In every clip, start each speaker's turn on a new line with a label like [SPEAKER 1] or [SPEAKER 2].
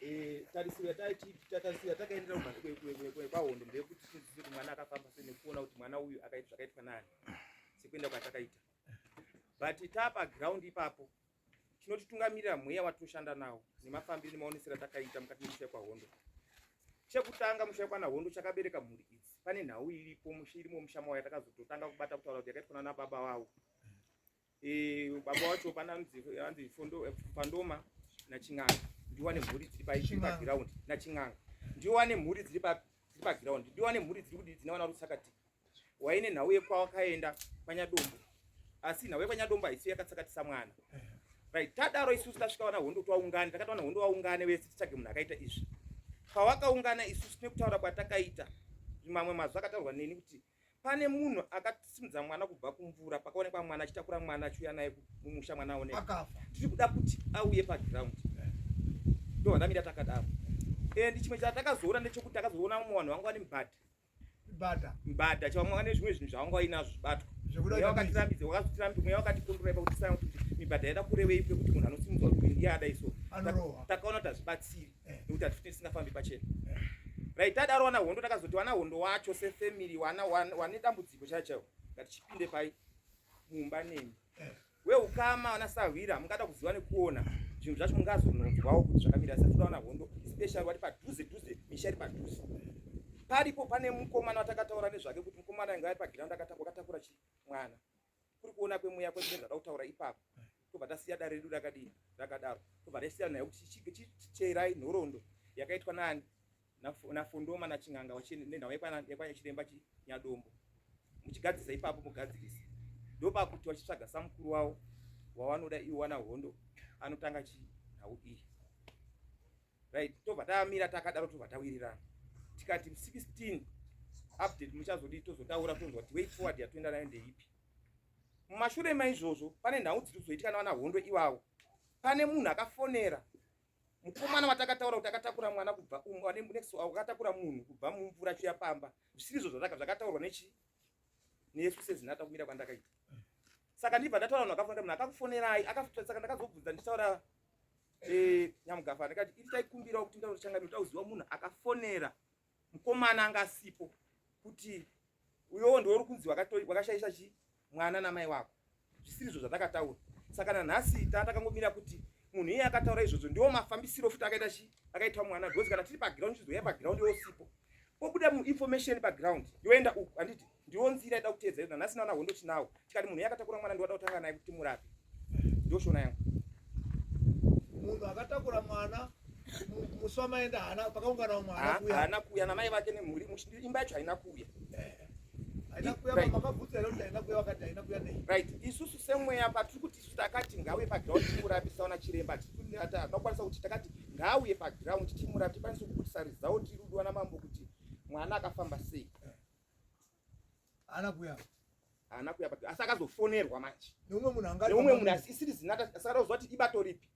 [SPEAKER 1] Eh, tarisiro yataitatarisiro yatakaendera kwahondo ndeyekuti tizive kuti mwana akafamba sei nekuona kuti mwana uyu akaita zvakaitwa nani sekuenda kwatakaita but tapa ground ipapo chinotitungamirira mweya watoshanda nawo nemafambiro nemaonesero atakaita mukati memusha kwahondo chekutanga musha kwana hondo chakabereka mhuri idzi pane nhau iripo irimo musha mawo yatakazototanga kubata kutaura kuti yakaitwa nana baba wavo Eh, baba wacho pana anzi fondo eh, pandoma na chinganga ndiwane mhuri dziri pa ichi pa ground na chinganga ndiwane mhuri dziri pa dziri pa ground ndiwane mhuri dziri kudii dzina wana rutsakati waine nhau yekwa wakaenda panya dombo asi nhau yekwa nyadombo haisi yakatsakatisa mwana right tadaro isusu tasvika wana hondo twaungana takati wana hondo waungane vese titsvage munhu akaita izvi pawakaungana isusu nekutaura kwatakaita mamwe mazwi akataurwa neni kuti pane munhu akasimudza mwana kubva kumvura pakaonekwa mwana achitakura mwana achiuya naye mumusha mwana aoneka tiri kuda kuti auye paground ndohwandamira takadaro and chimwe chatakazoona ndechekuti takazoona mumwe vanhu vanga vane mbada mbada chavamwe vane zvimwe zvinhu zvavanga vainazvo zvibatwa mweya wakatirambidza wakazotirambidza mweya wakatikondorai pakuti saa kuti mibhadha yaida kurevei pekuti munhu anosimudzwa kuti ndiye adai so takaona kuti hazvibatsiri nekuti hatifuti tisingafambi pachena right tadaro wana hondo takazoti wana hondo wacho sefamily wana wane dambudziko chaiyo chaiyo ngati chipinde pai mumba nemi weukama wana sahwira mungada kuziva nekuona zvinhu zvacho mungazononzwawo kuti zvakamira satoda wana hondo especially wati padhuze dhuze misha iri padhuze paripo pane mukomana watakataura nezvake kuti mukomana ainge ari pagiraundi akatakura chii mwana kuri kuona kwemweya kwese nezvada kutaura ipapo tobva tasiya dare redu rakadini rakadaro tobva taisiyana nayo kuti chicheirai nhorondo yakaitwa nani nafondoma nachinganga nenhau yekwanachiremba chinyadombo muchigadzirisa ipapo mugadzirisa ndopakuti vachitsvaga samukuru wavo wavanoda iwo wana hondo anotanga chinhau iyi right tobva tamira takadaro tobva tawirirana tikati 16 update muchazodii tozotaura tonzwa kuti way forward yatoenda nayo ndeipi mumashure maizvozvo pane nhau dziri kuzoitika navana hondo ivawo pane munhu akafonera mukomana watakataura kuti akatakura mwana kubva akatakura munhu kubva mumvura chiya pamba zvisiri izvo zvataka zvakataurwa nechi nesu sezinata kumira kwandakaita saka ndibva ndataura munhu akafonera munhu akakufonerai saka ndakazobvunza ndichitaura eh, nyamugafa ndikati iri taikumbirawo kuti ndaona changamiro tauziwa munhu akafonera mukomana anga asipo kuti uyowo ndiwo uri kunzi wakashaisha chi mwana namai wako zvisiri izvo zvatakataura saka nanhasi taa takangomira kuti munhu iye akataura izvozvo ndiwo mafambisiro futi akaita chi akaitwa mwana because kana tiri paground chizoya paground yosipo pobuda muinformation paground yoenda uku handiti Ndiwo nzira ida kuteedzera nhasi nawana hondo tinawo. Tikati munhu yakatakura mwana ndiwada kutanga naye kuti murape. Ndiyo shona yangu. Munhu
[SPEAKER 2] akatakura mwana musi wamaenda hana pakaungana umwe hana kuya. Hana kuya na mai
[SPEAKER 1] vake nemhuri imba yacho haina kuya. Eh. Haina kuya right. makabvunza leo haina kuya wakati haina kuya nei. Right. Isusu semweya patiri kuti isu takati ngawe pa ground timurapisa ona chiremba tikunyata. Tinokwanisa kuti takati ngauye pa ground timurapisa tikwanisa kukutisa result rudo na mambo kuti mwana akafamba sei.
[SPEAKER 2] ana kuya ana kuya but
[SPEAKER 1] asi akazofonerwa manje neumwe munhu anga neumwe
[SPEAKER 2] munhu asi isiri
[SPEAKER 1] zinata asi akazowa kuti ibato ripi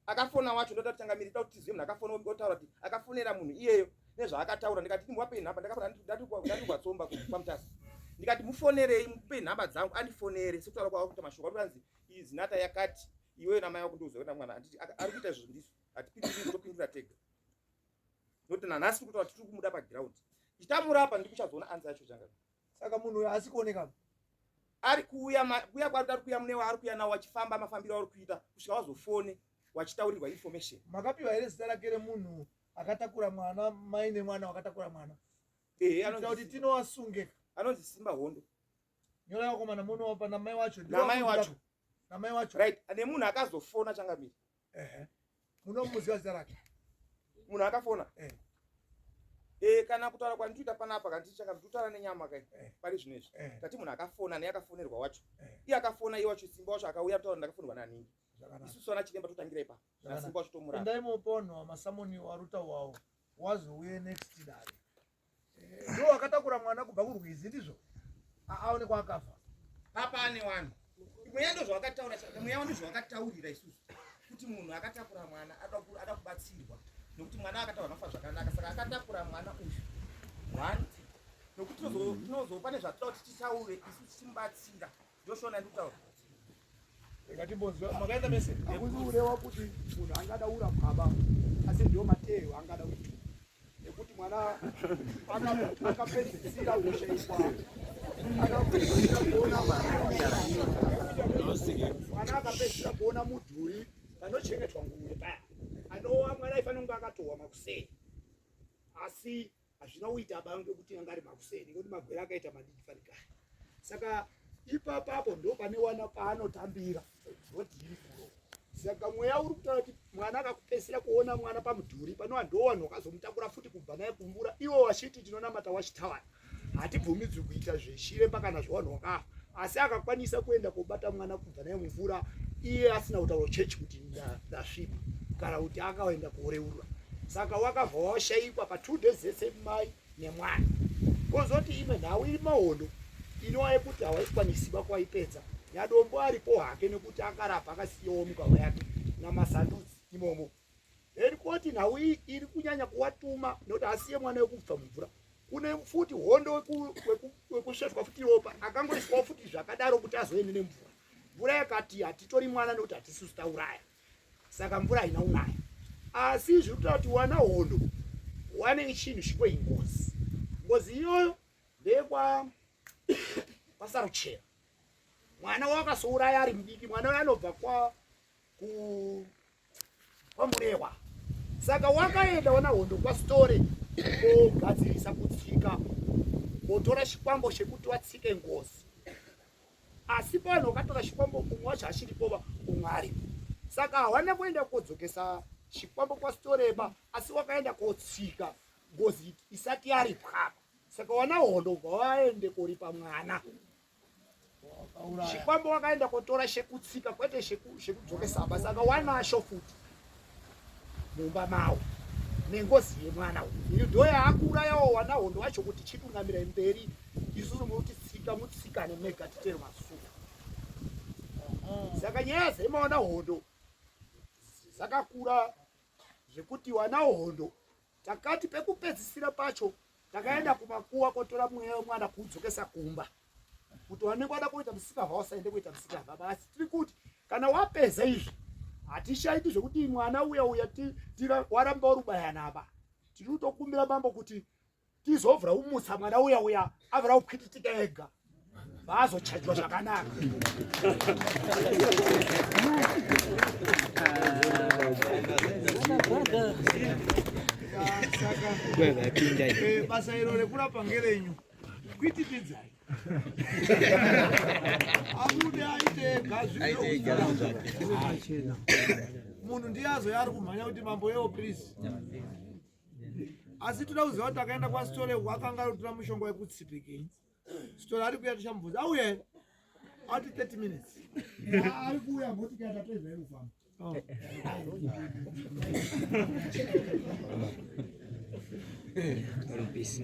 [SPEAKER 1] akafona wacho ndoda kutanga miri tauti zimwe akafona otaura kuti akafonera munhu iyeyo nezvaakataura ndikati ndimuwape nhamba ndakabva ndatukwa tsomba pamutasi ndikati mufonerei mupe nhamba dzangu andifonere sekutaura kwava kuita mashoko atiranzi iyi zinata yakati iweyo namai wakundiuza kuenda mwana ari kuita izvo zvindisu hatipindiri topindira tega noti nanhasi tiri kutaura tiri kumuda pagiraundi chitamurapa ndi kuchazoona anzi yacho changa saka munhu uyo haasi
[SPEAKER 2] kuoneka ari
[SPEAKER 1] kuuya kuya kwari ari kuya munewa ari kuya nawo wachifamba mafambiro auri kuita kusvika wazofone wachitaurirwa information makapiwa here zita rake
[SPEAKER 2] remunhu akatakura mwana mai nemwana wakatakura mwana ehe anoita kuti
[SPEAKER 1] tinowasunge
[SPEAKER 2] anonzi simba
[SPEAKER 1] hondo nyora
[SPEAKER 2] vakomana muno pana mai wacho namai wacho namai wacho right ane munhu
[SPEAKER 1] akazofona changamiri ehe
[SPEAKER 2] munomuziva zita rake munhu
[SPEAKER 1] akafona eh. Eh, kana kutaura kwandinoita panapa kana tichaka ndotara nenyama kai eh. pari zvino izvi eh. tati munhu akafona ne akafonerwa wacho eh. iye akafona iye wacho simba wacho akauya kutaura ndakafonerwa naningi isusu ana chiremba totangira ipa nasimba wacho tomurapa ndaimoponwa masamoni
[SPEAKER 2] waruta wawo wazouye next dare ndiwo akatakura mwana kubva kurwizi ndizvo aone kwaakafa apa ane
[SPEAKER 1] wani mweya ndo zvawakataura mweya wani zvawakataurira isusu kuti munhu akatakura mwana ada kubatsirwa nekuti mwana akataura nofa zvakanaka saka akatakura mwana uyu one nekuti tinozopa nezvatinoda kuti titaure isu tichimubatsira Joshua na ndutaura. Ngati
[SPEAKER 2] bonzo makaenda mese. Akuzi urewa kuti munhu angada ura baba. Asi ndio Mateo angada kuti. Nekuti mwana akapedzisira hosha ikwa. Akapedzisira kuona mwana. Mwana akapedzisira kuona mudhuri panochengetwa nguwe paya. Anowa mwana ifanira kunge akatowa makuseni. Asi hazvina kuita aba ange kuti anga ari makuseni ngekuti magwere akaita madiki fanikani saka ipapapo ndo pane wana paanotambira vodii kuro saka mweya uri kutaura kuti mwana akakupesera kuona mwana pamudhuri panova ndo wanhu wakazomutakura futi kubva naye kumvura iwo wachiti tinonamata wachitawana hatibvumidzwi kuita zvechiremba kana zvewanhu wakafa asi akakwanisa kuenda kobata mwana kubva naye mumvura iye asina kutaura chechi kuti ndasvipa kana kuti akaenda kuoreurwa saka wakabva washaikwa pa two days ese mai nemwana kozoti imwe nhau iri mahondo inowa yekuti hawaikwanisiba kwaipedza yadombo aripo hake nekuti akarapa akasiyawo mugava yake namasandudzi imomo helikoti nhau iyi iri kunyanya kuwatuma nekuti asiye mwana wekubva mumvura kune futi hondo wekusvetwa futi ropa akangoiswawo futi zvakadaro kuti azoende nemvura mvura yakati hatitori mwana nekuti hatisisu tauraya saka mvura haina unaya asi zviri kutaa kuti wana hondo wane chinhu chiko ingozi ngozi iyoyo ndeyekwa kwasaruchera mwana wakasouraya ari mudiki mwana uyo anobva kwa kwamurehwa saka wakaenda wana hondo kwasitore kogadzirisa kutsika wotora chikwambo chekuti watsike ngozi asi panhu wakatora chikwambo umwe wacho hachiripova umwe aripo saka hawana kuenda kodzokesa chikwambo kwasitoreba asi wakaenda kotsika ngozi isati yaripwapa saka wana hondo bva waende koripa mwana Chikwambo wakaenda kotora shekutsika kwete shekudzokesa basa akawanasho futi mumba mawo nengozi yemwana uyu ndo yaakuurayawo wana hondo wacho kuti chitungamira mberi isusu muti tsika mutsikane mega titere masuka saka nyaya dzemawana hondo dzakakura zvekuti wana hondo Takati pekupedzisira pacho takaenda kumakuwa kotora mweya wemwana kuudzokesa kumba kuti wanenge wada kuita musika hausaende kuita musika baba asi tiri kuti kana wapedza izvi hatishaiti zvekuti mwana uya uya waramba warubayanaba tiri kutokumbira mambo kuti tizovhura umutsa mwana uya uya avhura kupwititika ega vaazochajwa zvakanaka eh, basa iro rekurapa ngerenyu kwitipidzai abude aite gazviachena munhu ndiye azoya ari kumhanya kuti mambo yewo please asi toda kuziva kuti akaenda kwasitore wakanga ari kutora mushonga wekutsipikei Sitora ari kuya tichamubvunza. Auya here? Ati 30 minutes. Ah, ari kuya moti kuya tatoiva yekufamba. Oh. Rupisi.